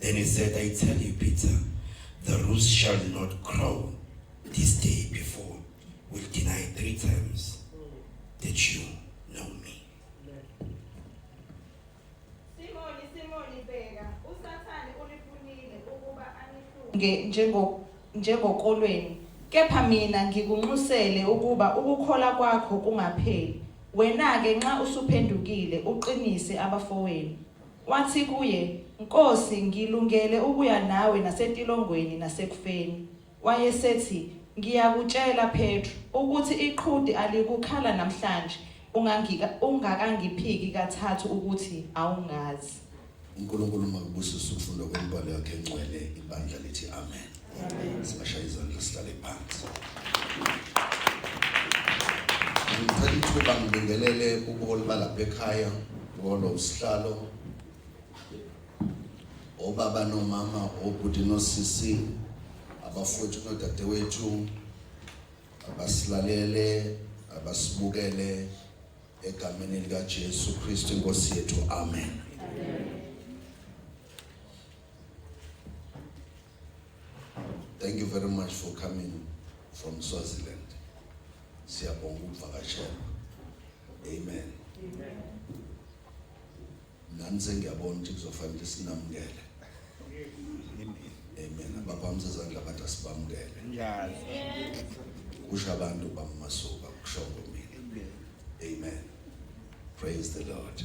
Then he said, I tell you, Peter, the rooster shall not crow this day before will deny three times that you know me. Simoni, Simoni, bheka, uSathane unifunile ukuba anihlunge njengo njengokolweni, kepha mina ngikunxusele ukuba ukukhola kwakho kungapheli. Wena-ke nxa usuphendukile, uqinise abafowenu. Wathi kuye, Nkosi, ngilungele ukuya nawe nasetilongweni nasekufeni. Wayesethi, Ngiyakutshela, Petru, ukuthi iqhude alikukhala namhlanje ungangika, ungakangiphiki kathathu ukuthi awungazi. UNkulunkulu makubusise ukufundwa kwemibhalo yakhe engcwele, ibandla lithi amen. ekhaya ngolo usihlalo obaba nomama obhuti nosisi abafowethu nodadewethu abasilalele abasibukele egameni likaJesu Kristu inkosi yethu amen, amen. Thank you very much for coming from Swaziland. Siyabonga ukuvakashela. Amen. Amen. Nami sengiyabona ukuthi kuzofanele sinamukele. Amen. Abaphamisa izandla abantu asibamukele. Njalo. Kusho abantu bamasuka kusho mina. Amen. Praise the Lord.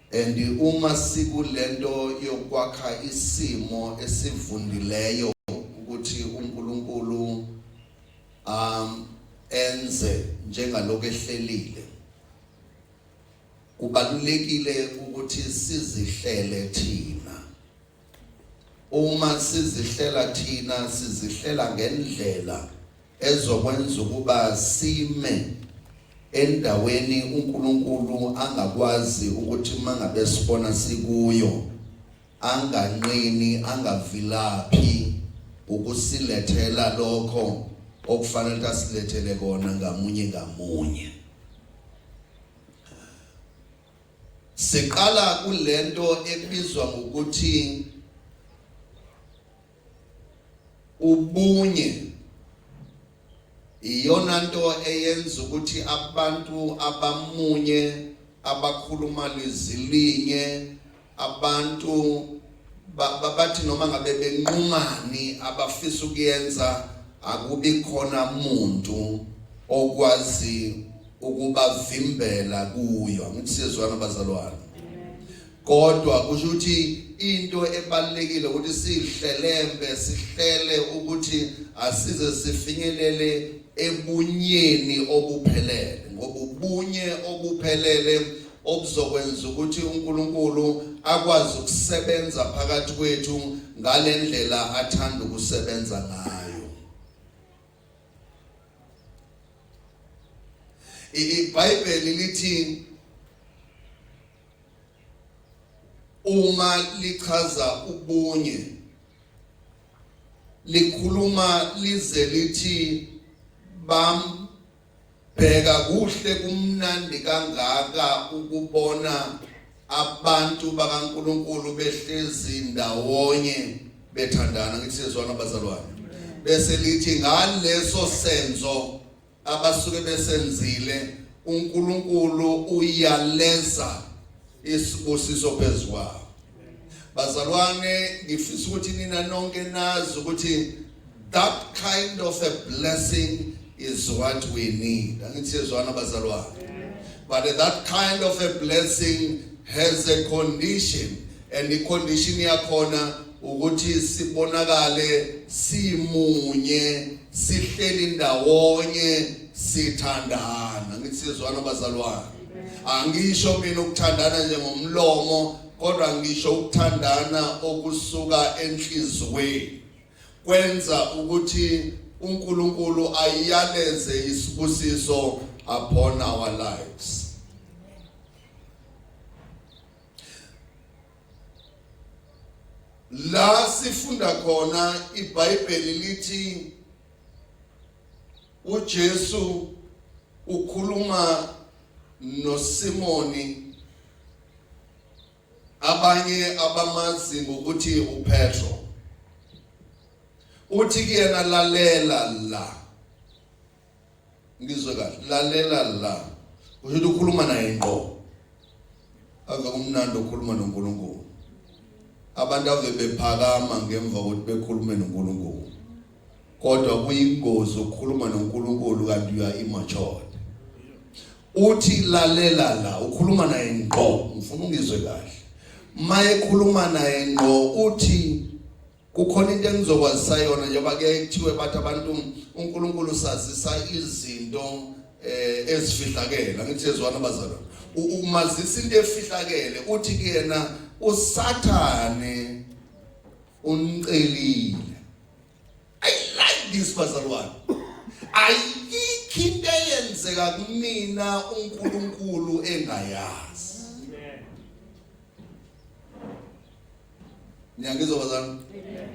And uma sikulento yokwakha isimo esivundileyo ukuthi uNkulunkulu um enze njengaloko ehlelile kubalulekile ukuthi sizihlele thina Uma sizihlela thina sizihlela ngendlela ezokwenza ukuba sime endaweni uNkulunkulu angakwazi ukuthi mangabe sibona sikuyo anganqini angavilaphi ukusilethela lokho okufanele asilethele kona ngamunye ngamunye Siqala kulento ebizwa ngokuthi ubunye iyona nto eyenza ukuthi abantu abamunye abakhuluma lizilinye Abantu bathi noma ngabe benqumani abafisa ukuyenza akubi khona muntu okwazi ukubavimbela kuyo angithi sizwana bazalwane kodwa kusho ukuthi into ebalekile ukuthi sihlelembe sihlele ukuthi asize sifinyelele ebunyeni obuphelele ngoba ubunye obuphelele okuzokwenza ukuthi uNkulunkulu akwazi ukusebenza phakathi kwethu ngalendlela athanda ukusebenza ngayo iBhayibheli lithi uma lichaza ubunye likhuluma lize lithi bam Bheka kuhle kumnandi kangaka ukubona abantu bakaNkuluNkulu behlezi ndawonye bethandana ngithi sezwana bazalwane bese lithi ngaleso senzo abasuke besenzile uNkulunkulu uyaleza isibusiso phezukwabo Bazalwane ngifisa ukuthi nina nonke nazi ukuthi that kind of a blessing is what we need. Angithi siyezwana bazalwane. But that kind of a blessing has a condition and the condition yakhona ukuthi sibonakale simunye sihleli ndawonye sithandana ngisizwana bazalwane Angisho mina ukuthandana nje ngomlomo kodwa ngisho ukuthandana okusuka enhlizweni kwenza ukuthi uNkulunkulu ayiyaleze isibusiso upon our lives la sifunda khona iBhayibheli lithi UJesu ukhuluma noSimoni abanye abamazi ngokuthi uPetro uthi kuyena lalela la ngizwe kahle lalela la usho ukuthi ukhuluma naye ngqo ave kumnandi ukukhuluma noNkulunkulu abantu ave bephakama ngemva kokuthi bekhulume noNkulunkulu kodwa kuyingozi ukukhuluma noNkulunkulu kanti uya immature uthi lalela la ukhuluma naye ngqo ngifuna ungizwe kahle maye khuluma naye ngqo uthi kukhona into engizokwazisa yona njengoba ke kuthiwe bathi abantu uNkulunkulu sazisa izinto eh ezifihlakele angithi sezwana abazalwane umazisa into efihlakele uthi kuyena usathane Unicelile. I like this bazalwane. Ayikho into eyenzeka kumina uNkulunkulu engayazi. Amen. Niyangizwa bazalwane? Amen.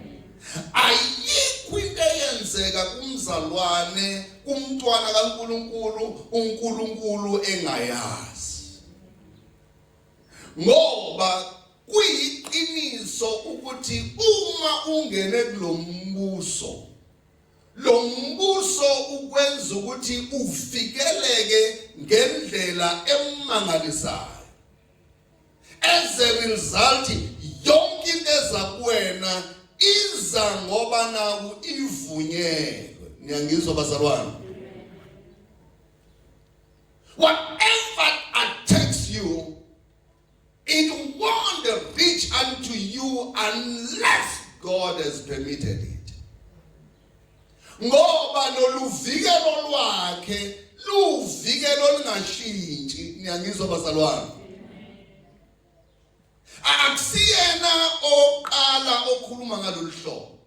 Ayikho into eyenzeka kumzalwane kumntwana kaNkuluNkulu uNkuluNkulu engayazi. Ngoba Kuyiqiniso ukuthi uma ungene kulombuso lombuso ukwenza ukuthi ufikeleke ngendlela emangalisayo as a result yonke into eza kuwena iza ngoba naku ivunyelwe niyangizwa bazalwane whatever attacks you It won't reach unto you unless God has permitted it. Ngoba loluvikelo lwakhe luvikelo olungashintshi niyangizwa bazalwane. Akusiyena oqala okhuluma ngalolu hlobo.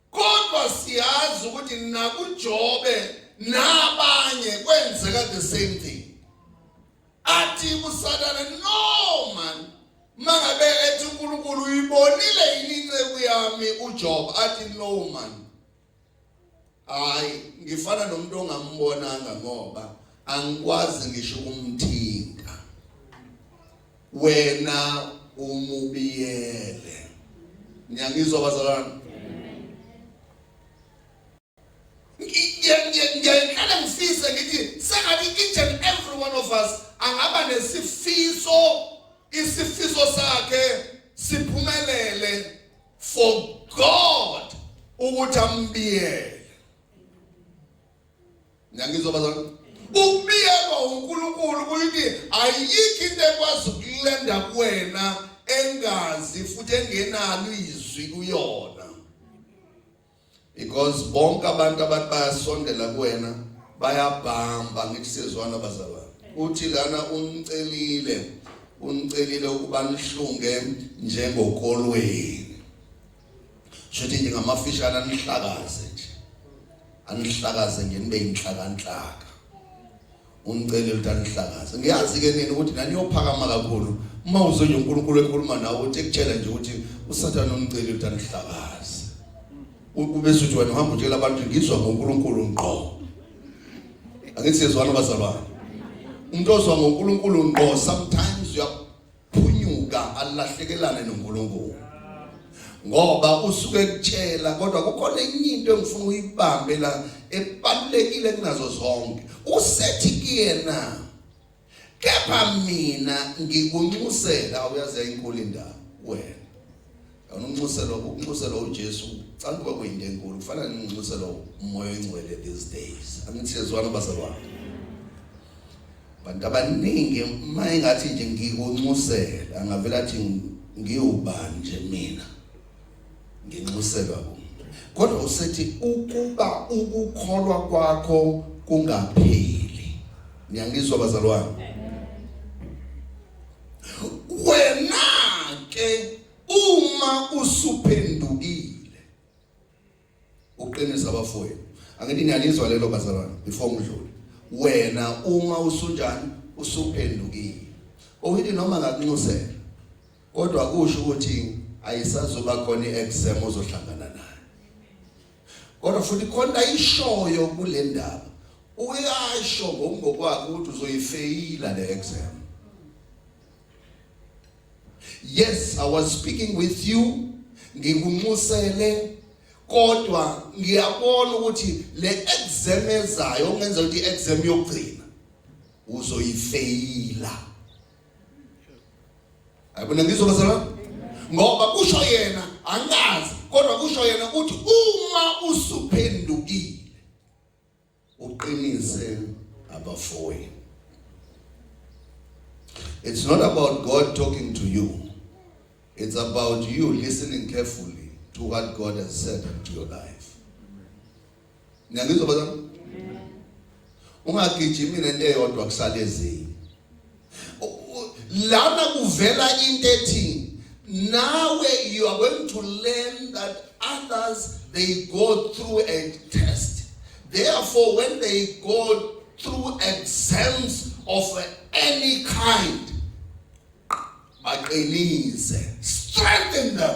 kodwa siyazi ukuthi nakuJobe nabanye kwenzeka the same thing athi kusathane no man mangabe ethi uNkulunkulu uyibonile yini inceku yami uJob athi no man hayi ngifana nomuntu ongambonanga ngoba angikwazi ngisho ukumthinta wena umubiyele ngiyangizwa bazalwane ngiyayiqala ngifise ngithi sengathi each and every one of us angaba nesifiso isifiso sakhe siphumelele for God ukuthi ambiyele Ngiyangizwa bazalwane. Ukubiyelwa uNkulunkulu kuyithi ayikho into ekwazi ukulenda kuwena engazi futhi engenalo izwi kuyona. Because bonke abantu abathi bayasondela kuwena bayabhamba ngithi sezwana bazalwane. Uthi lana umcelile unicelile ukuba nihlunge njengokolweni shothi nje ngamafishane anihlakaze nje anihlakaze nje nibe inhlakanhlaka umcele ukuthi anihlakaze ngiyazi ke nini ukuthi naniyophakama kakhulu uma uzwe nje uNkulunkulu ekhuluma nawe uthi ekutshela nje ukuthi usathane umcele ukuthi anihlakaze ubese uthi wena uhamba utshela abantu ngizwa ngoNkulunkulu ngqo angithi siyezwana bazalwane umuntu ozwa ngoNkulunkulu ngqo sometimes uya phunyuka alahlekelane noNkulunkulu ngoba usuke ekutshela kodwa kukhona enye into engifuna uyibambe la ebalulekile kunazo zonke usethi kuyena kepha mina ngikunxusela uyazi inkulu indawo wena Yona unxuselo ukunxuselo uJesu canga kuba kuyinto enkulu kufana nenxuselo umoya oyingcwele these days. Angithi yezwana bazalwane. Bantu abaningi uma engathi nje ngikunxusela angavela athi ngiwubani nje mina. Nginxuselwa kumuntu. Kodwa usethi ukuba ukukholwa kwakho kungapheli. Niyangizwa bazalwane? wena ke uma usuphendukile uqinisa abafowenu angithi niyalizwa lelo bazalwane before ngidlule wena uma usunjani usuphendukile oyithi noma ngakunxusela kodwa kusho ukuthi ayisazoba khona iexam ozohlangana nayo kodwa futhi khona ishoyo kule ndaba uyasho ngokungokwakhe ukuthi uzoyifeyila le exam yes i was speaking with you ngikunxusele kodwa ngiyabona ukuthi le exam ezayo ongenza ukuthi i-exam yokugcina uzoyifeyila Ayibona ngizwa bazalwane? Ngoba kusho yena angazi kodwa kusho yena ukuthi uma usuphendukile uqinise abafowenu. It's not about God talking to you. It's about you listening carefully to what God has said into your life. Ngiyangizwa bazalwane. Ungagijimi nento eyodwa kusale ezinye. Lana kuvela into ethi nawe you are going to learn that others they go through a test. Therefore when they go through exams of any kind baqinise strengthen them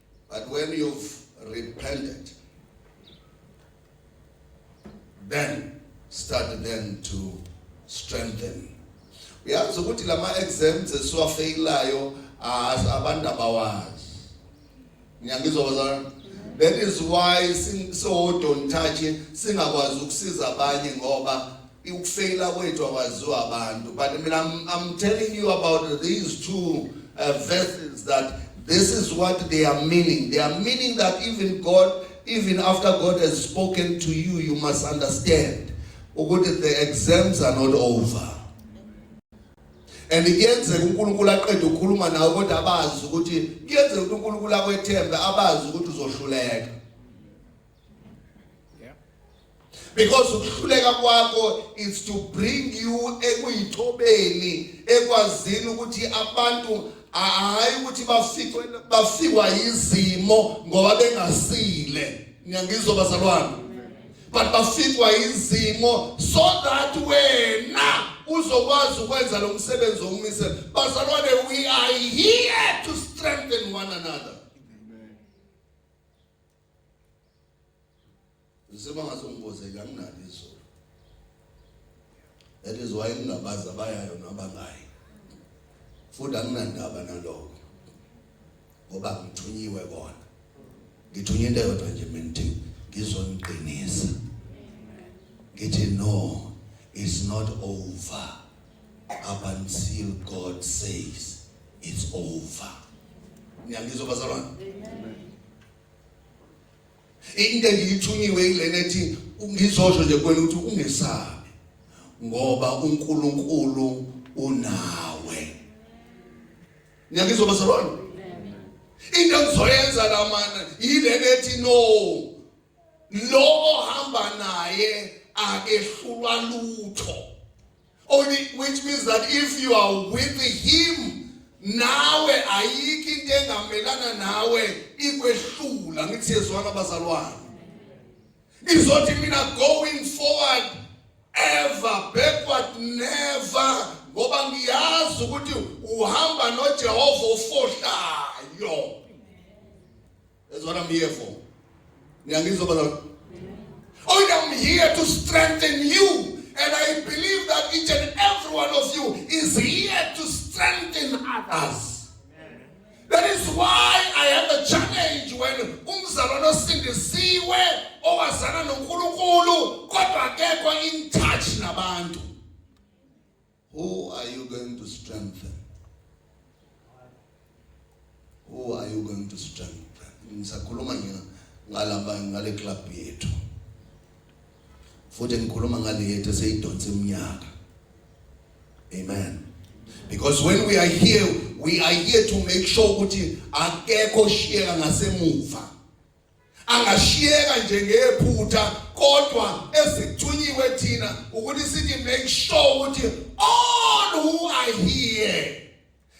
But when you've repented, then start then to strengthen. Uyazi ukuthi lama exams esiwafeyilayo abantu abawazi. Ngiyangizwa bazalwane. That is why singawodontathi singakwazi ukusiza abanye ngoba Ukufeyila kwethu akwaziwa abantu but mina I'm, I'm telling you about these two uh, verses that this is what they are meaning. They are meaning that even God, even after God has spoken to you, you must understand ukuthi the exams are not over. and kuyenzeka uNkulunkulu aqede ukukhuluma nawe kodwa abazi ukuthi kuyenzeka ukuthi uNkulunkulu akwethembe abazi ukuthi uzohluleka because ukuhluleka kwakho is to bring you ekuyithobeni ekwazini ukuthi abantu hayi ukuthi bafikwe bafikwa izimo ngoba bengasile ngiyangizwa bazalwane but bafikwa izimo so that wena uzokwazi ukwenza lo msebenzi omise bazalwane we are here to strengthen one another Ngisema ngazongibozeka anginalo izolo. That is why ngingabaza bayayo nabangayi. Futhi anginandaba nalokho. Ngoba ngithunyiwe kona. Ngithunywe into yodwa nje mina ngithi ngizoniqinisa. Ngithi no, it's not over up until God says it's over. Ngiyangizwa bazalwane. Amen. into engiyithunyiwe ilena ethi ngizosho nje kuwena ukuthi ungesabi ngoba uNkulunkulu unawe ngiyakizoba salona into engizoyenza la mana yilena ethi no lo ohamba naye akehlulwa lutho Only which means that if you are with him nawe ayikho into engamelana nawe ikwehlula ngithi yezwana abazalwane izothi mina going forward ever backward never ngoba ngiyazi ukuthi uhamba noJehova ofohlayo That's what I'm here for. Niyangizwa balona? Oh, I'm here to strengthen you. And I believe that each and every one of you is here to strengthen others. That is why I have a challenge when umzalwane osindisiwe owazana noNkulunkulu kodwa akekho in touch nabantu. Who are you going to strengthen? Who are you going to strengthen? Ngisakhuluma ngina ngalaba ngale club yethu. Futhi ngikhuluma ngale yethu eseyidonsa iminyaka. Amen. Because when we are here, we are here to make sure ukuthi akekho shiyeka ngasemuva. angashiyeka nje ngephutha kodwa esithunyiwe thina ukuthi sithi make sure ukuthi all who are here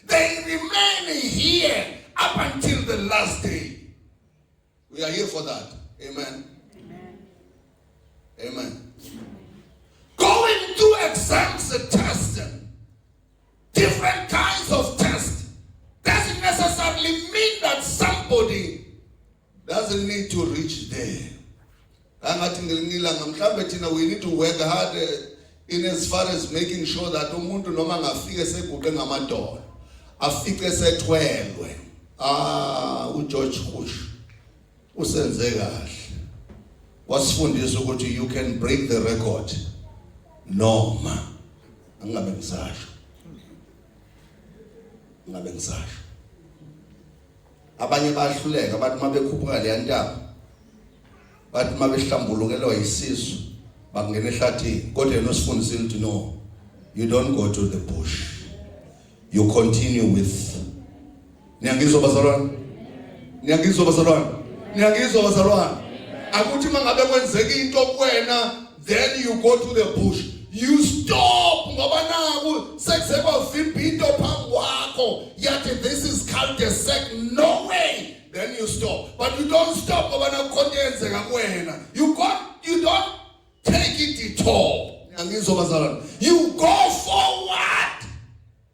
they remain here up until the last day we are here for that amen amen, amen. going through exams and tests Different kinds of tests doesn't necessarily mean that somebody doesn't need to reach there. Angathi ngelinye ilanga mhlambe thina we need to work hard eh, in as far as making sure that umuntu noma ngafike seguqe ngamadolo afike sethwelwe ah uGeorge Bush Usenze kahle. Wasifundisa ukuthi you can break the record noma angabe ngisasho. Ngabe ngisasho. Abanye bahluleka bathi uma bekhuphuka le ntaba bathi uma behlambulukelwa isisu bangena ehlathini kodwa yena usifundisile ukuthi no you don't go to the bush you continue with Niyangizwa bazalwane? Niyangizwa bazalwane? Niyangizwa bazalwane? Akuthi mangabe kwenzeka into kuwena then you go to the bush. You stop ngoba naku sekuse kwavimba into phambi kwakho yathi this is called a sec no way then you stop but you don't stop ngoba nakukhona yenzeka kuwena you go you don't take it at all angizwa bazalwane you go forward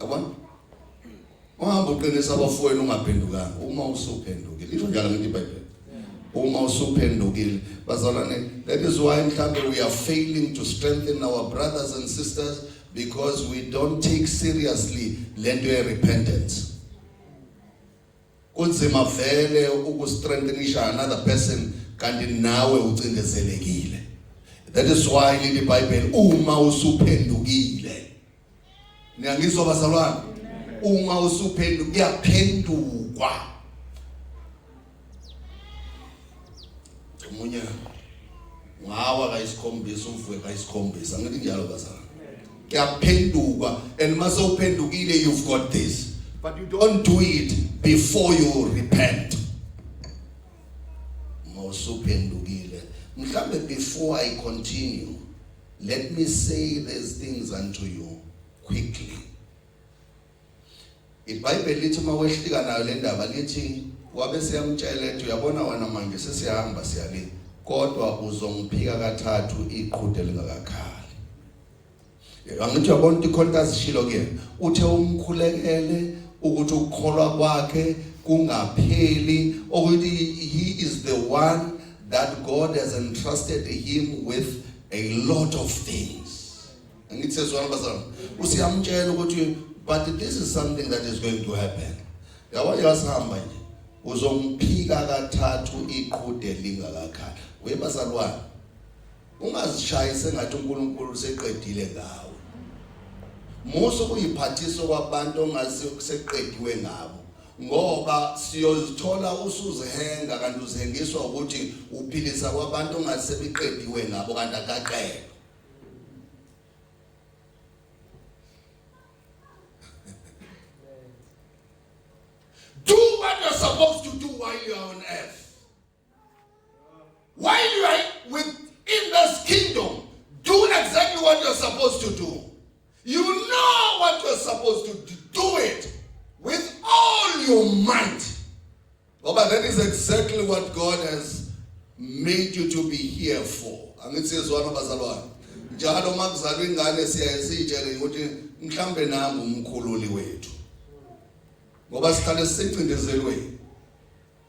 Yabona? Ungahamba uqinisa abafowenu ungaphendukanga uma usuphendukile. Isho njalo ngithi iBhayibheli. Uma usuphendukile, bazalwane, that is why mhlambe we are failing to strengthen our brothers and sisters because we don't take seriously lento ye repentance. Kunzima vele ukustrengthenisha another person kanti nawe ucindezelekile. That is why leli Bible uma usuphendukile Niyangizwa bazalwane? Uma usuphenduka kuyaphendukwa. Omunye ngawa kayisikhombisa uvuke kayisikhombisa ngithi njalo bazalwane. Kuyaphendukwa and mase uphendukile you've got this but you don't do it before you repent. Mawusuphendukile. Mhlambe before I continue Let me say these things unto you quickly. IBhayibheli lithi uma wehlika nayo le ndaba lithi wabe siyamtshela ethi uyabona wena manje sesihamba siya le kodwa uzongiphika kathathu iqhude lingakakhali. Angithi uyabona ukuthi khona azishilo kuyena uthe umkhulekele ukuthi ukukholwa kwakhe kungapheli okuthi he is the one that God has entrusted him with a lot of things. Angithi sezwana bazalwane. Usiyamtshela ukuthi but this is something that is going to happen. Yabo yasihamba nje. Uzomphika kathathu iqhude lingakakhali. Webazalwane Ungazishayi sengathi uNkulunkulu useqedile ngawe. Musa ukuyiphathisa kwabantu ongazi kuseqediwe ngabo ngoba siyozithola usuzihenga kanti uzihengiswa ukuthi uphilisa kwabantu ongazi sebiqediwe ngabo kanti akaqedwe. Do what you're supposed to do while you're on earth. While you are within this kingdom, do exactly what you're supposed to do. You know what you're supposed to do. Do it with all your might. Oh, but that is exactly what God has made you to be here for. angithi yezwana bazalwane njalo uma kuzalwa ingane siyaye siyitshele ukuthi mhlawumbe nangu umkhululi wethu ngoba sihlale sicindezelweni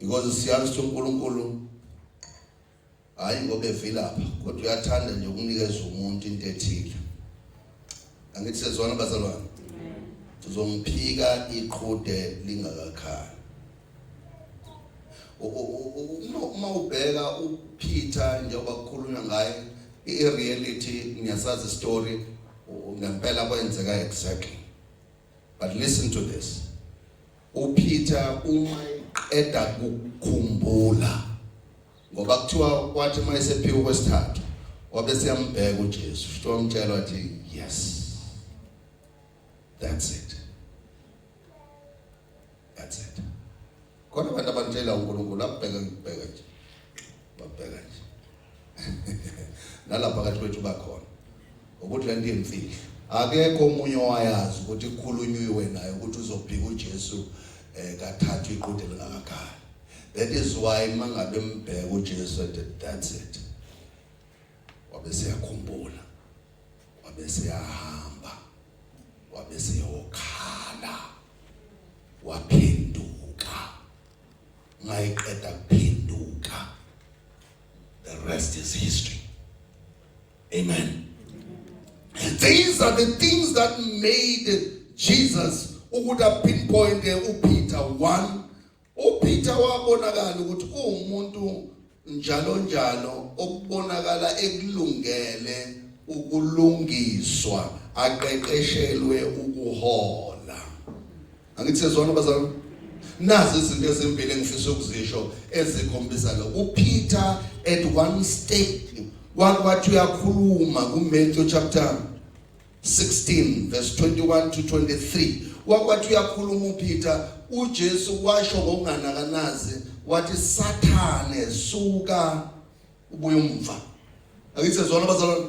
because siyazi ukuthi uNkulunkulu hayi ngoba evilapha kodwa uyathanda nje ukunikeza umuntu into ethile angithi sezwana bazalwane sizomphika iqhude lingakakhali uma ubheka uPeter njengoba kukhulunywa ngaye i-reality ngiyasazi story ngempela kwenzeka exactly But listen to this. UPeter uma eqeda kukhumbula ngoba kuthiwa kwathi uma esephika kwesithathu wabe siyambheka uJesu futhi wamtshela wathi yes. That's it. khona abantu abantshela uNkulunkulu abheke ngibheke nje babheka nje nalapha kathi kwethu bakhona ukuthi lento imfihlo akekho omunye owayazi ukuthi kukhulunywe naye ukuthi uzophika uJesu eh kathathu iqhude lingakakhala that is why mangabe mbheka uJesu at that's it wabe seyakhumbula wabe seyahamba wabese yokhala waphinduka ngayiqeda kuphinduka the rest is history amen these are the things that made Jesus ukuda pinpoint uPeter 1 UPeter wabonakala ukuthi uwumuntu njalo njalo okubonakala ekulungele ukulungiswa aqeqeshelwe ukuhola angithi sezwana bazalwane nazi izinto ezimbili engifisa ukuzisho ezikhombisa lo uPeter at one stage wathi uyakhuluma kuMatthew chapter 16 verse 21 to 23 wakwathi uyakhuluma uPeter uJesu washo ngokunganakanazi wathi sathane suka ubuye umva akithi sezona bazalwane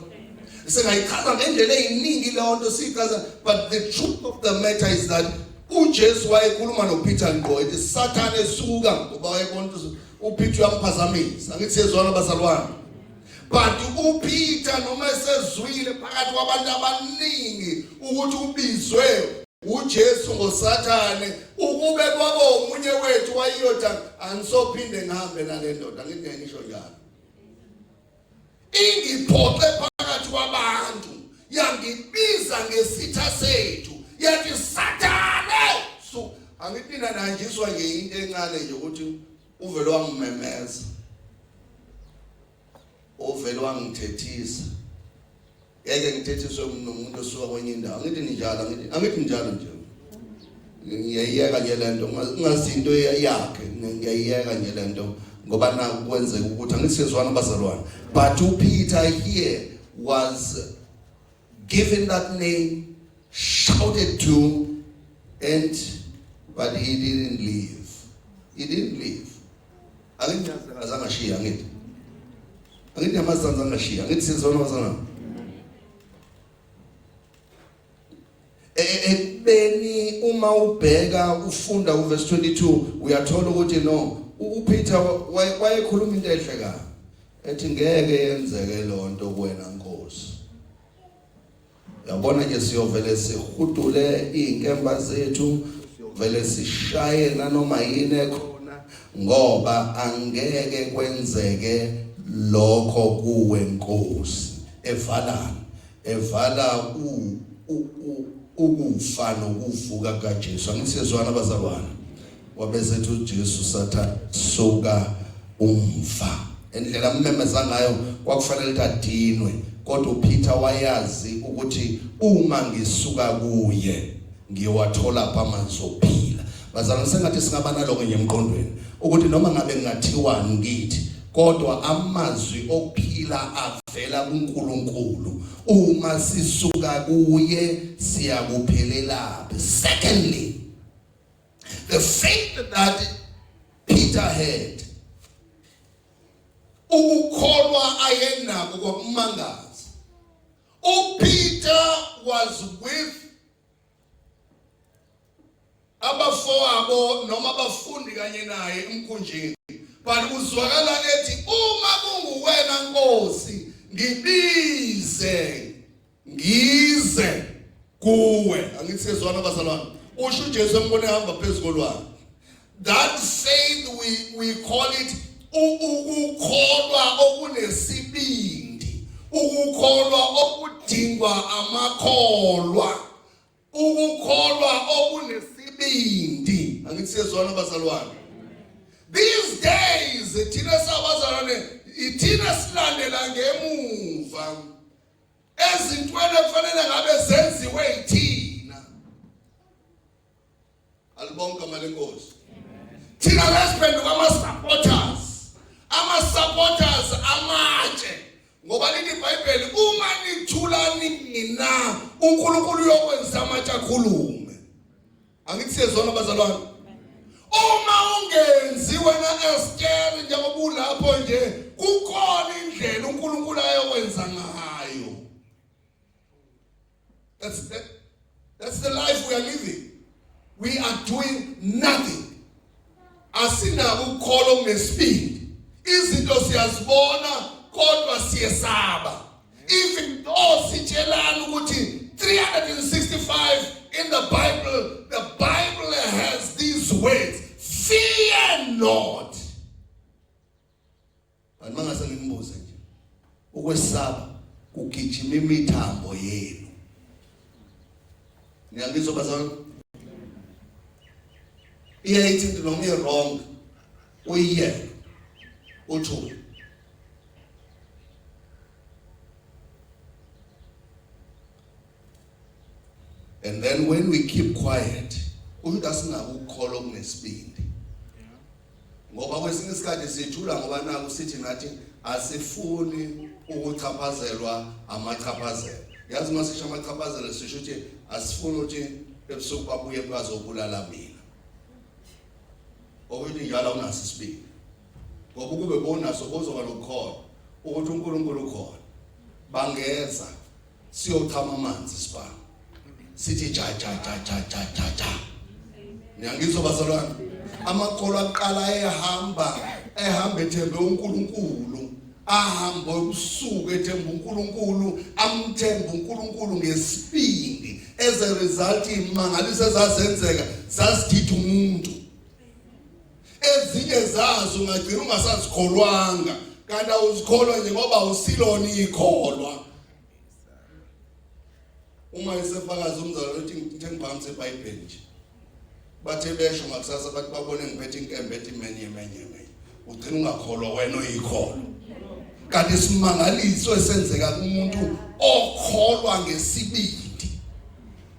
singayichaza ngendlela eziningi leyo nto siyichaza but the truth of the matter is that uJesu wayekhuluma noPeter ngqo ethi sathane suka ngoba wayebona ukuthi uPeter uyamphazamisa angithi sezona bazalwane but uPeter noma esezwile phakathi kwabantu abaningi ukuthi ubizwe uJesu ngoSathane ukube kwabo omunye wethu wayiyoda angisophinde ngihambe nalendoda ngithi ngisho njalo ingiphoxe phakathi kwabantu yangibiza ngesitha sethu yathi sathane so angiphina nanjiswa nje into encane nje ukuthi uvele wangimemeza uvele wangithethisa ngeke ngithethiswe nomuntu osuka kwenye indawo ngithi njalo ngithi angithi njalo nje ngiyayiyeka nje lento ungazinto yakhe ngiyayiyeka nje lento ngoba naku kwenzeka ukuthi angisizwana bazalwane but uPeter here was given that name, shouted to, and but he didn't leave. He didn't leave. Angithi azange ashiya ngithi. Angithi amazange angashiya. Angithi sizona wazana. ekubeni uma ubheka ufunda uverse 22 uyathola ukuthi no uPeter wayekhuluma into ehle kabi ethi ngeke yenzeke lonto kuwena Nkosi yabona ke siyovele sihudule inkemba zethu siyovele sishaye nanoma yini ekhona ngoba angeke kwenzeke lokho kuwe Nkosi evala evala u ukufa nokuvuka kaJesu angisizwana bazalwane Wabesethi uJesu satha suka umva. Indlela ammemeza ngayo kwakufanele ukuthi adinwe kodwa uPeter wayazi ukuthi uma ngisuka kuye ngiyowathola pha amanzi okuphila. Bazalwa sengathi singaba naloko nje emqondweni ukuthi noma ngabe ngathiwani ngithi kodwa amazwi okuphila avela kuNkulunkulu uma sisuka kuye siyakuphelelabe secondly The faith that Peter had ukukholwa ayenako kwakumangaza. UPeter was with abafowabo noma abafundi kanye naye emkhunjini but kuzwakala ethi uma kunguwena Nkosi ngibize ngize kuwe angithi sezwana bazalwane usho uJesu embone hamba phezukolwana that faith we we call it ukukholwa okunesibindi ukukholwa okudingwa amakholwa ukukholwa okunesibindi angithi sezwana bazalwane these days thina sabazalwane ithina silandela ngemuva ezintweni ekufanele ngabe zenziwe yithina alibonke mali inkosi thina lesiphenduka ama-supporters ama-supporters amatshe ngoba lithi ibhayibheli uma nithula nina unkulunkulu uyokwenza amatshe akhulume angithi siyezwana bazalwane uma ungenzi wena eskeri njengoba ulapho nje kukhona indlela unkulunkulu ayokwenza ngayo that's, that, that's the life we are living we are doing nothing asinabo ukukholo kunesibindi izinto siyazibona kodwa siyesaba even though sitshelana ukuthi 365 in the bible the bible has these words fear not Kanti mangase ngimbuze nje. Ukwesaba kugijima imithambo yenu. Ngiyangizwa bazalwane. Iyayithi into noma i-wrong uyiyeke uthule. and then when we keep quiet umuntu asingakukholwa okunesibindi ngoba kwesinye isikhathi sijula ngoba naku sithi nathi asifuni ukuchaphazelwa amachaphazelo yazi uma sisho amachaphazelo sisho ukuthi asifuni ukuthi ebusuku babuye bazobulala mina okuthi njalo unaso isibindi ngoba ukube bonaso bozoba lokukhona ukuthi unkulunkulu ukhona bangeza siyochama amanzi sibani sithi ja ja ja ja ja ja ja ngiyangizwa bazalwane amakholwa aqala ehamba ehamba ethembe uNkulunkulu ahamba ubusuku ethemba uNkulunkulu amthemba uNkulunkulu ngesibindi as a result imangaliso ezazenzeka sasithithi umuntu ezinye zazo ungagcina ungasazikholwanga kanti awuzikholwa nje ngoba awusilona ikholwa uma esefakaza umzalwane uthi ngithe ngibhamise ibhayibheli nje bathe besho ngakusasa bathi babone ngiphethe inkembe ethi menye menye menye ugcina ungakholwa wena oyikholwa kanti isimangaliso esenzeka kumuntu okholwa ngesibili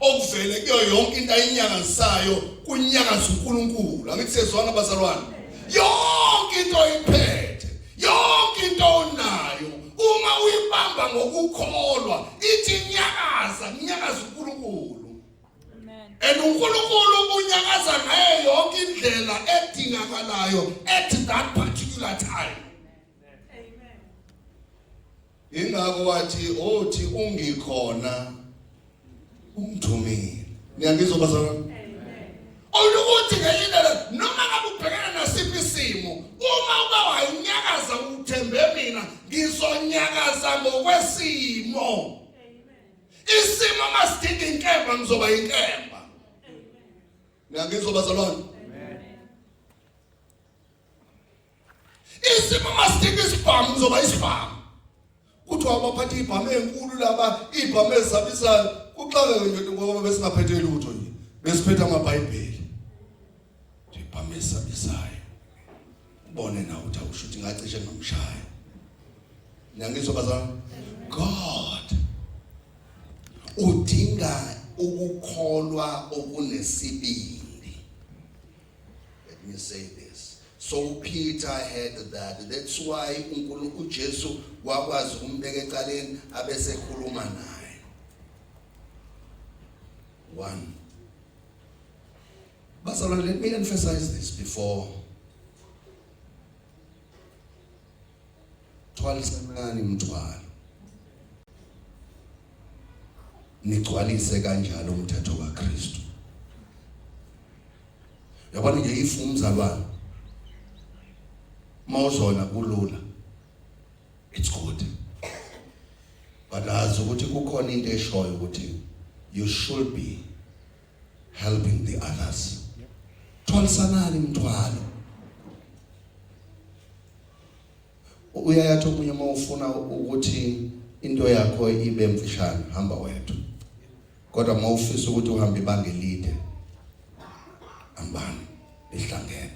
okuvele kuyo yonke into ayinyakanzisayo kunyakaza uNkulunkulu angithi sezwana bazalwane yonke into oyiphethe yonke into onayo uma uyibamba ngokukholwa ithi nyakaza nyakaza uNkulunkulu amen and uNkulunkulu unyakaza ngayo yonke indlela edingakalayo at that particular time ingakho wathi othi ungikhona ungithumile niyangizwa bazalwa olukuthi ngenye indlela noma ngabe ubhekene nasiphi isimo uma uba wanyakaza uthembe mina ngizonyakaza ngokwesimo isimo masidinga inkemba ngizoba inkemba niyangizwa bazalwane isimo masidinga isibhamu uzoba isibhamu kuthiwa abaphatha ibhamu enkulu laba ibhamu ezabisayo kuxakeke nje ngoba besingaphethe lutho nje besiphethe amabhayibheli ibhamu ezabisayo ubone na ukuthi awusho ukuthi ngacishe ngamshaya nangizwa bazana god udinga ukukholwa okunesibili Let me say this. So Peter had that. That's why uNkulunkulu uJesu wakwazi ukumbeka ecaleni abese khuluma naye. 1 But let me emphasize this before thwalisanani umthwalo nigcwalise kanjalo umthetho kaKristu yabona nje if umzalwane mawuzona kulula it's good but azi ukuthi kukhona into eshoyo ukuthi you should be helping the others thwalisanani mthwalo uyayathi omunye uma ufuna ukuthi into yakho ibe mfishane hamba wedwa kodwa uma ufisa ukuthi uhambe ibanga elide hambani lihlangene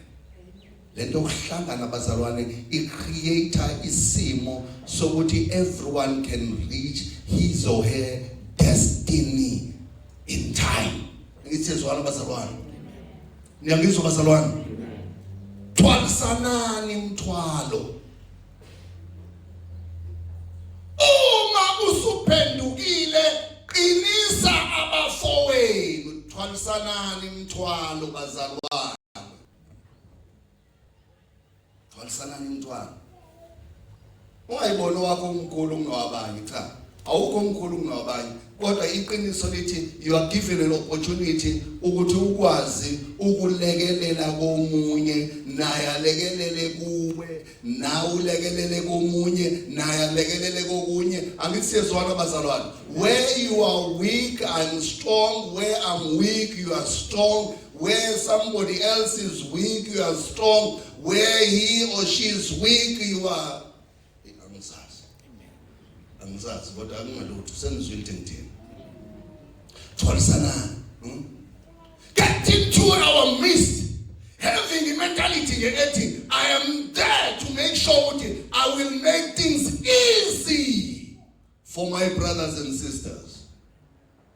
lento yokuhlangana bazalwane i creator isimo sokuthi everyone can reach his or her destiny in time ngithi ezwana bazalwane niyangizwa bazalwane thwalisanani umthwalo uma usuphendukile qinisa abafowenu thwalisanani umthwalo bazalwane Walisanani umntwana. Ungayibona wakho umkhulu kunowabanye cha. Awukho umkhulu kunowabanye. Kodwa iqiniso lithi you are given an opportunity ukuthi ukwazi ukulekelela komunye naye alekelele kuwe nawe ulekelele komunye naye alekelele kokunye angithi siyezwana bazalwane where you are weak i'm strong where i'm weak you are strong where somebody else is weak you are strong where he or she is weak you are angisazi kodwa akungalutho sengizwile ukuthi ngithini tholisana hmm? getting to our midst having a mentality nje ethi i am there to make sure ukuthi i will make things easy for my brothers and sisters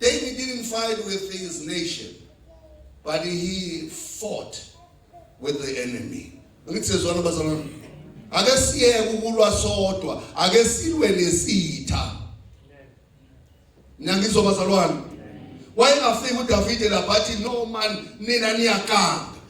David didn't fight with his nation, but he fought with the enemy. Ngithezwana bazalwane. Ake siyeke ukulwa sodwa, ake silwe nesitha. Nangizwa bazalwane. Wayengafika uDavide lapha athi no man nina niyakanga.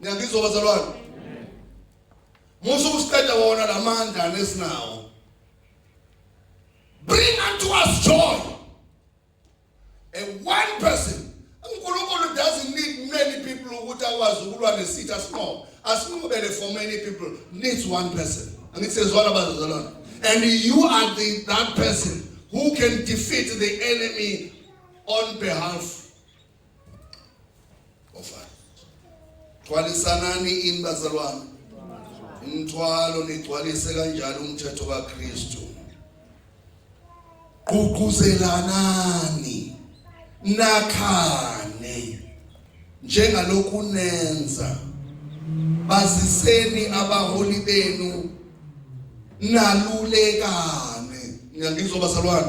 ngiyangizwa bazalwane musa ukusiqeda wona lamandla nesinawo bring unto us joy a one person uNkulunkulu doesn't need many people ukuthi akwazi ukulwa nesitha sinqobo asinqobele for many people needs one person angithi sezwana bazalwane and you are the that person who can defeat the enemy on behalf Ofana. Thwalisanani ini bazalwane? Umthwalo nigcwalise kanjalo umthetho kaKristu. Ququzelanani. Nakhane. Njengalokhu nenza. Baziseni abaholi benu nalulekane. Ngiyangizwa bazalwane.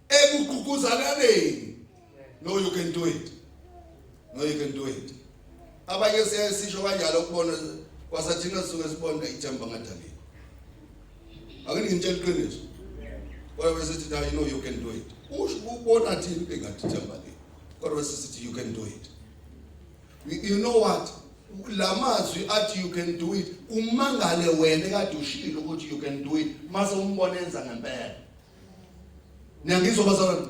ekugqugquzalaneni no you can do it no you can do it abanye siyaye sisho kanjalo ukubona kwasathina suke sibona ithemba ngadalile akini ngitshela iqiniso kodwa bese sithi you know you can do it usho ubona thini engathi ithemba le kodwa bese sithi you can do it you know what lamazwi athi you can do it umangale wena kade ushilo ukuthi you can do it mase umbona enza ngempela niyangizwa bazalwane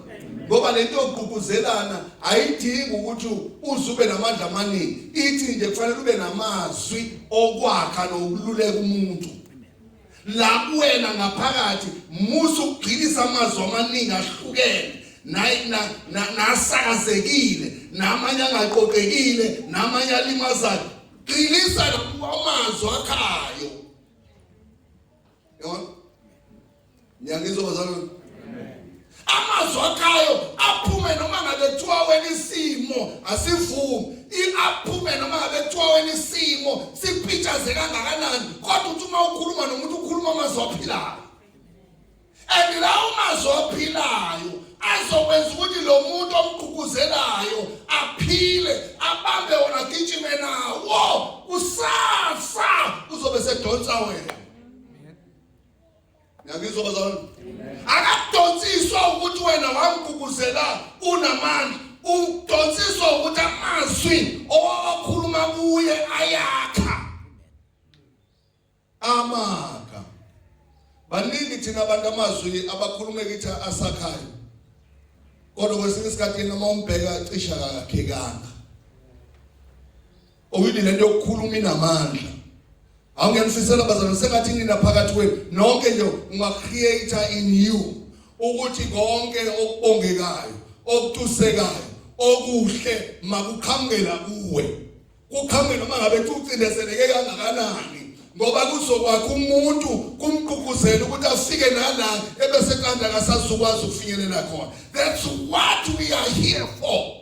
ngoba lento yokuququzelana ayidingi ukuthi uze ube namandla amaningi ithi nje kufanele ube namazwi okwakha nokululeka umuntu la kuwena ngaphakathi musa ukugxilisa amazwi amaningi ahlukene nasakazekile namanye angaqoqekile namanye alimazayo gxilisa amazwi akhayo Yabona? Ngiyangizwa bazalwane. Amazwi akhayo aphume noma ngabe kuthiwa wena isimo asivumi. Iaphume noma ngabe kuthiwa wena isimo sipitshaze kangakanani kodwa uthi uma ukhuluma nomuntu ukhuluma amazwi aphilayo. And lawo mazwi aphilayo azokwenza ukuthi lo muntu omgquguzelayo aphile abambe wona gijime nawo kusasa uzobe sedonsa wena ngiyangizwa bazalwane akadonsiswa ukuthi wena wamguguzela unamandla udonsiswa ukuthi amazwi owakhuluma kuye ayakha amaka baningi thina abantu amazwi abakhulume kithi asakhayo kodwa kwesinye isikhathi noma umbheka cisha kakhekanga Owini lento yokukhuluma inamandla. Awungenifisela bazalwane sengathi nina phakathi kwenu nonke nje unga create in you ukuthi konke okubongekayo, okutusekayo, okuhle makuqhamukela kuwe. Kuqhamukela uma ngabe ucindezeleke kangakanani. ngoba kuzokwakha umuntu kumququzela ukuthi afike nala ebese kanda akasazukwazi ukufinyelela khona that's what we are here for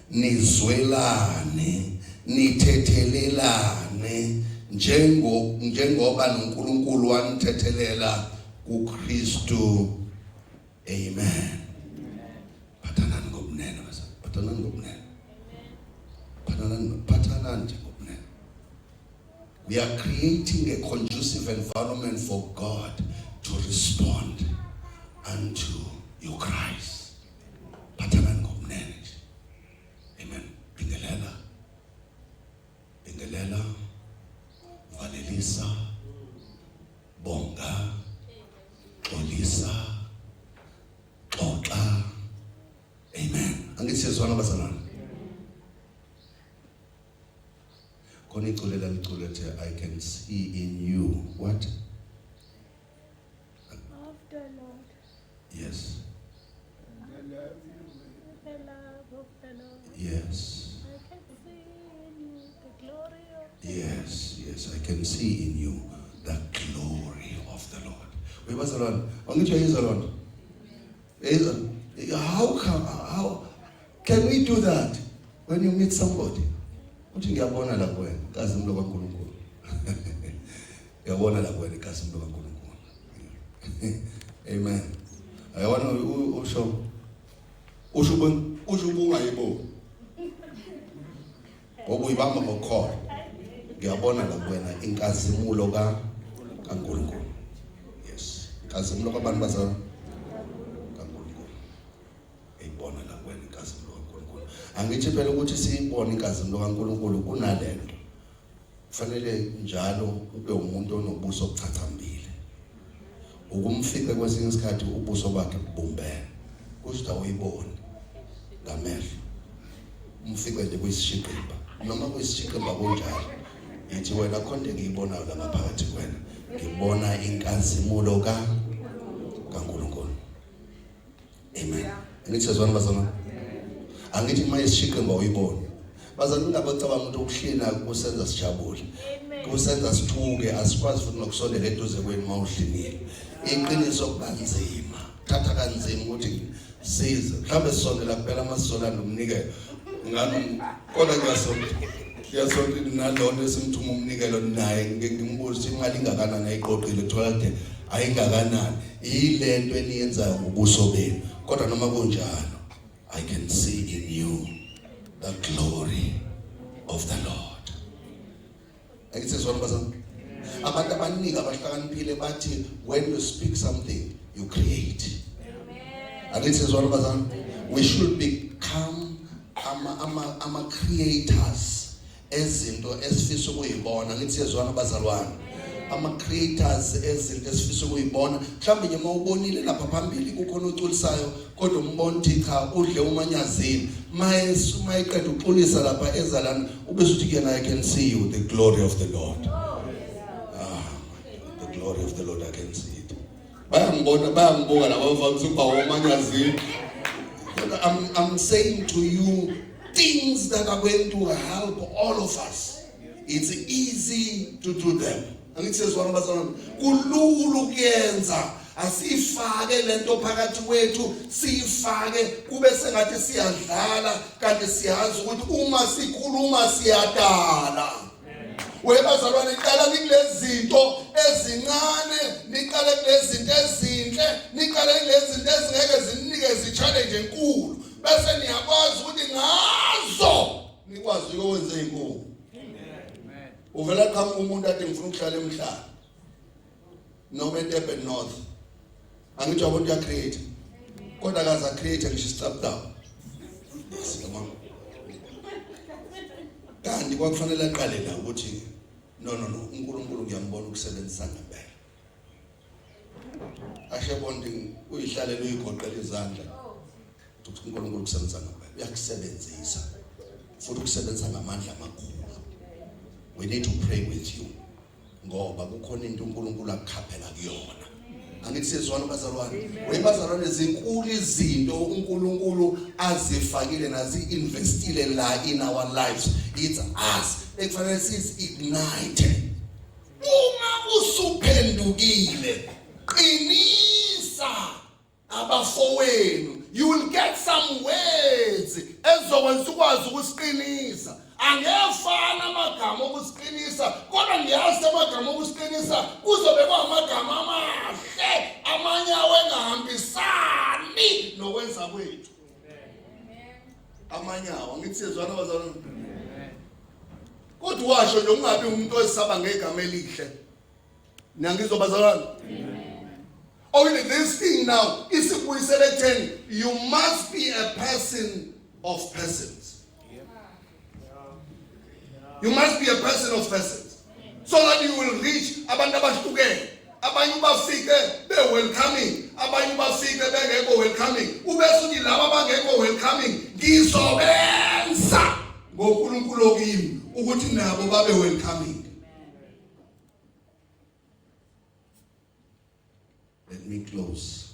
nizwelane nithethelelane njengo njengoba noNkulunkulu wanithethelela kuKristu amen phathanani ngobunene basa phathanani ngobunene phathanani phathanani nje ngobunene we are creating a conducive environment for God to respond unto your Christ Phathelani ngobunene nje. Amen. Bingelela. Bingelela. Valelisa. Bonga. Xolisa. Xoxa. Amen. Angithi siyezwana bazalwane. Khona iculela liculethe I can see in you. What? Lord. Only to His Lord. How come? How can we do that when you meet somebody? Uthi ngiyabona la kuwena kazi umlo kaNkulunkulu. Yabona la kwena igazi umuntu kaNkulunkulu. Amen. Ayabona usho usho usho kungayiboni. Ngoba uyibamba ngokholo. Ngiyabona la kwena inkazimulo ka kaNkulunkulu. Yes. Inkazimulo kwabantu bazalwa angithi phela ukuthi siyibone inkazimulo kaNkulunkulu kunalento Kufanele njalo ube umuntu onobuso obuchathambile. Ukumfica kwesinye isikhathi ubuso bakhe bubumbene. Kusho uyibone ngamehlo. Umfice nje kuyisishiqimba. Noma kuyisishiqimba kunjalo. Yithi wena khonde ngiyibonayo la ngaphakathi kwena. Ngibona inkazimulo ka amen angithi sezwana bazalwane angithi uma isishiqe ngoba uyibone bazalwane ungabacabanga ukuthi ukuhlina kusenza sijabule kusenza sithuke asikwazi futhi nokusondela eduze kwenu uma udlinile iqiniso kubanzima thatha kanzima ukuthi size mhlawumbe sisondela kuphela amasonto anomnikelo ngani kodwa ngiyasonta ngiyasonta nalona esimthuma umnikelo naye ngike ngimbuze ukuthi imali ingakanani ayiqoqile thola kude ayingakanani yile nto eniyenzayo ngobuso benu kodwa noma kunjalo i can see in you the glory of the lord ayisizwana bazami abantu abaningi abahlakaniphile bathi when you speak something you create angisizwana bazami we should become ama ama ama creators ezinto esifisa ukuyibona ngithi yezwana bazalwane ama creators ezinto esifisa ukuyibona mhlawumbe nje uma ubonile lapha phambili kukhona oculisayo kodwa umbona ukuthi cha udle umanyazini maye suma iqeda uxolisa lapha ezalana ubese uthi kuyena i can see you the glory of the lord ah the glory of the lord i can see it bayangibona bayangibuka laba bavamisa ukuba womanyazini I'm, I'm saying to you things that are going to help all of us. It's easy to do them. angithi sezwana bazalwane kulula ukuyenza asifake lento phakathi kwethu sifake kube sengathi siyadlala kanti siyazi ukuthi uma sikhuluma siyadala webazalwane qala nikulezinto ezincane niqale kulezinto ezinhle niqale kulezinto ezingeke zinike zichallenge enkulu bese niyakwazi ukuthi ngazo nikwazi ukwenza inkulu uvela qhamuka umuntu athi ngifuna ukuhlala emhlaba noma eDurban North angithi abantu ya create kodwa akaza create ngisho stop down sikamama kanti kwakufanele aqale la ukuthi no no no uNkulunkulu ngiyambona ukusebenzisa ngempela Ashe bonding uyihlale uyigoqela izandla. Ukuthi uNkulunkulu kusebenza ngawe. Uyakusebenzisa. Futhi ukusebenza ngamandla amakhulu. We need to pray with you. Ngoba kukhona into uNkulunkulu akukhaphela kuyona. Angithi sizwana bazalwane. Wey bazalwane zinkulu izinto uNkulunkulu azifakile nazi investile la in our lives. It's us. Ekufanele sizi ignite. Uma usuphendukile qinisa abafowenu you will get some words ezokwenza ukwazi ukusiqinisa angefana amagama okusiqinisa kodwa ngiyazi amagama okusiqinisa kuzobe kwamagama amahle amanye awengahambisani nokwenza kwethu amanye awo angithi siyezwana bazalwane Kodwa washo nje ungabi umuntu oyisaba ngegama elihle. Nangizobazalwana. Only this thing now is ikubuyisela ekutheni you must be a person of persons. You must be a person of persons so that you will reach abantu abahlukene. abanye ubafike be-welcoming abanye ubafike bengekho welcoming ubese uthi laba abangekho welcoming ngizobenza ngonkulunkulu okimi ukuthi nabo babe welcoming let me close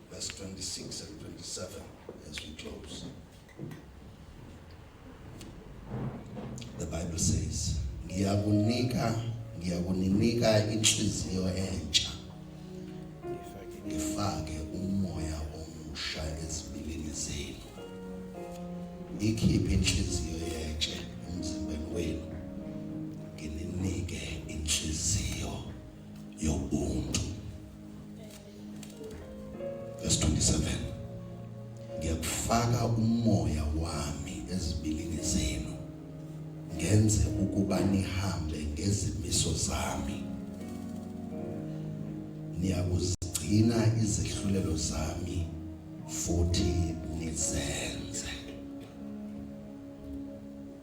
Verse 26 and 27 as we close. The Bible says, ngiyakunika ngiyakuninika inhliziyo entsha ngifake umoya omusha ezibilini zenu ikhiphe inhliziyo yentshe emzimbeni wenu ngininike inhliziyo yobuntu verse 27 ngiyakufaka umoya wami ezibilini zenu ngenze ukuba nihambe ngezimiso zami niyakuzigcina izehlulelo zami futhi nizenze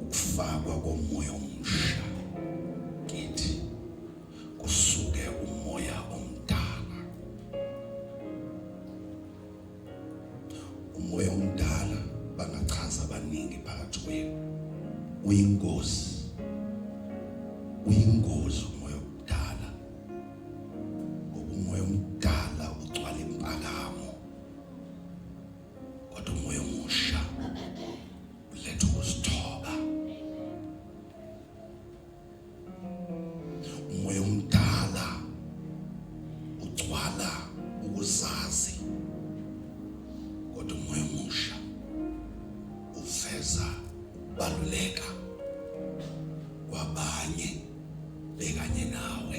ukufakwa komoya omusha kithi kusuke umoya omdala umoya omdala bangachaza abaningi phakathi kwenu uyingozi uyingozi umoya omdala ngoba umoya omdala ugcwala impakamo kodwa umoya omusha uletha ukuzithoba umoya omdala ugcwala ukuzazi kodwa umoya omusha uveza ukubaluleka kwabanye bekanye nawe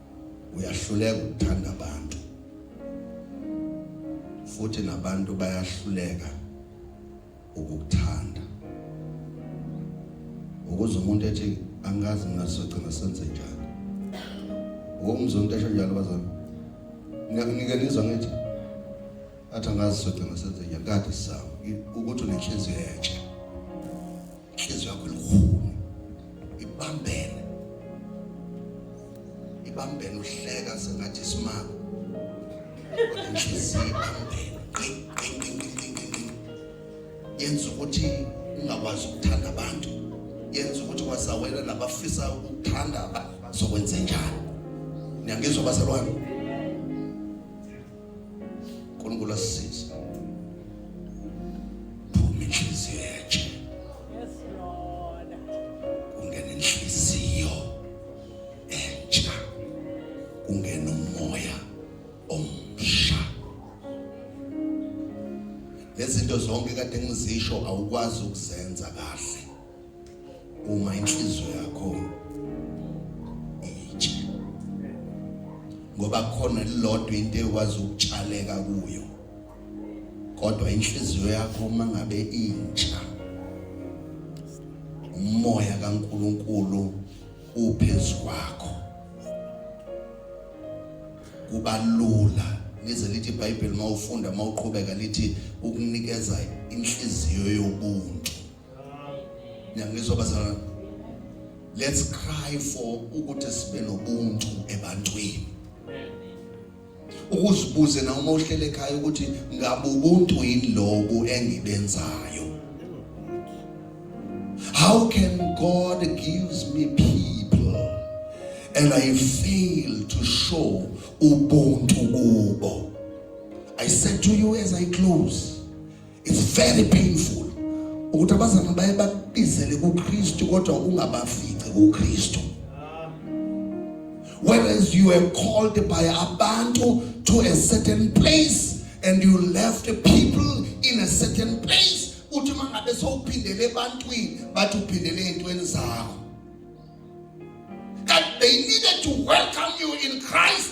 uyahluleka ukuthanda abantu futhi nabantu bayahluleka ukukuthanda ukuze umuntu ethi angazi mina sizogcina senze njani ukumuzwa umuntu esho njalo bazami ngiyakunike nizwa ngithi athi angazi sizogcina senze njani kade sisaba ukuthi unenhliziyo entsha inhliziyo yakho ilukhuni ibambene ibambene uhleka sengathi isimanga kodwa inhliziyo ibambene yenza ukuthi ungakwazi ukuthanda abantu yenza ukuthi wasawela nabafisa ukuthanda bazokwenze njani niyangizwa bazalwane uNkulunkulu asisize phuma inhliziyo yathi yes lord ungena inhliziyo entsha ungena umoya omsha lezinto zonke kade ngizisho awukwazi ukuzenza kahle uma inhliziyo yakho itshe ngoba khona lilodwa into ekwazi ukutshaleka kuyo kodwa inhliziyo yakho uma ngabe intsha umoya kaNkuluNkulu uphezu kwakho kubalula lize lithi iBhayibheli mawufunda mawuqhubeka lithi ukunikeza inhliziyo yobuntu Niyangizwa bazalwane? Let's cry for ukuthi sibe nobuntu ebantwini. Ukuzibuze na uma uhlele ekhaya ukuthi ngabe ubuntu yini lobu engibenzayo. How can God gives me people and I fail to show ubuntu kubo? I said to you as I close it's very painful ukuthi abazana baye bakubizele kuKristu kodwa ungabafici kuKristu whereas you were called by abantu to a certain place and you left people in a certain place uthi mangabe sowuphindele ebantwini bathi uphindele ezintweni zakho that they needed to welcome you in Christ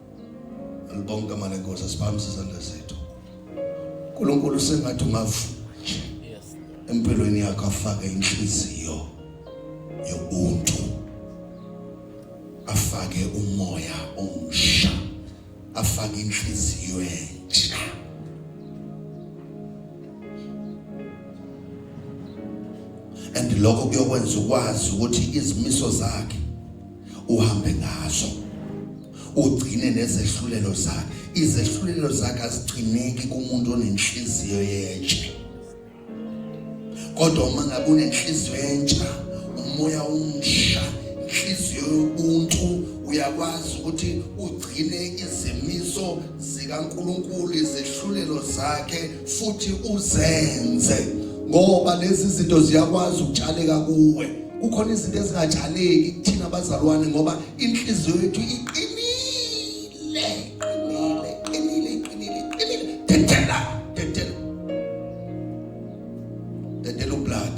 Ngibonga igama lenkosi asibambe izandla zethu. uNkulunkulu sengathi ungavuka nje empilweni yakho afake inhliziyo yobuntu afake umoya omsha afake inhliziyo entsha and lokho kuyokwenza ukwazi ukuthi izimiso zakhe uhambe ngazo ugcine nezehlulelo zakhe izehlulelo zakhe azigcineki kumuntu onenhliziyo yentsha kodwa uma ngabe unenhliziyo entsha umoya umsha inhliziyo yobuntu uyakwazi ukuthi ugcine izimiso zikaNkuluNkulu izehlulelo zakhe futhi uzenze ngoba lezi zinto ziyakwazi ukutshaleka kuwe kukhona izinto ezingatshaleki kuthina abazalwane ngoba inhliziyo yethu iqinile iqinile iqinile iqinile iqinile dedela dedela dedela ublood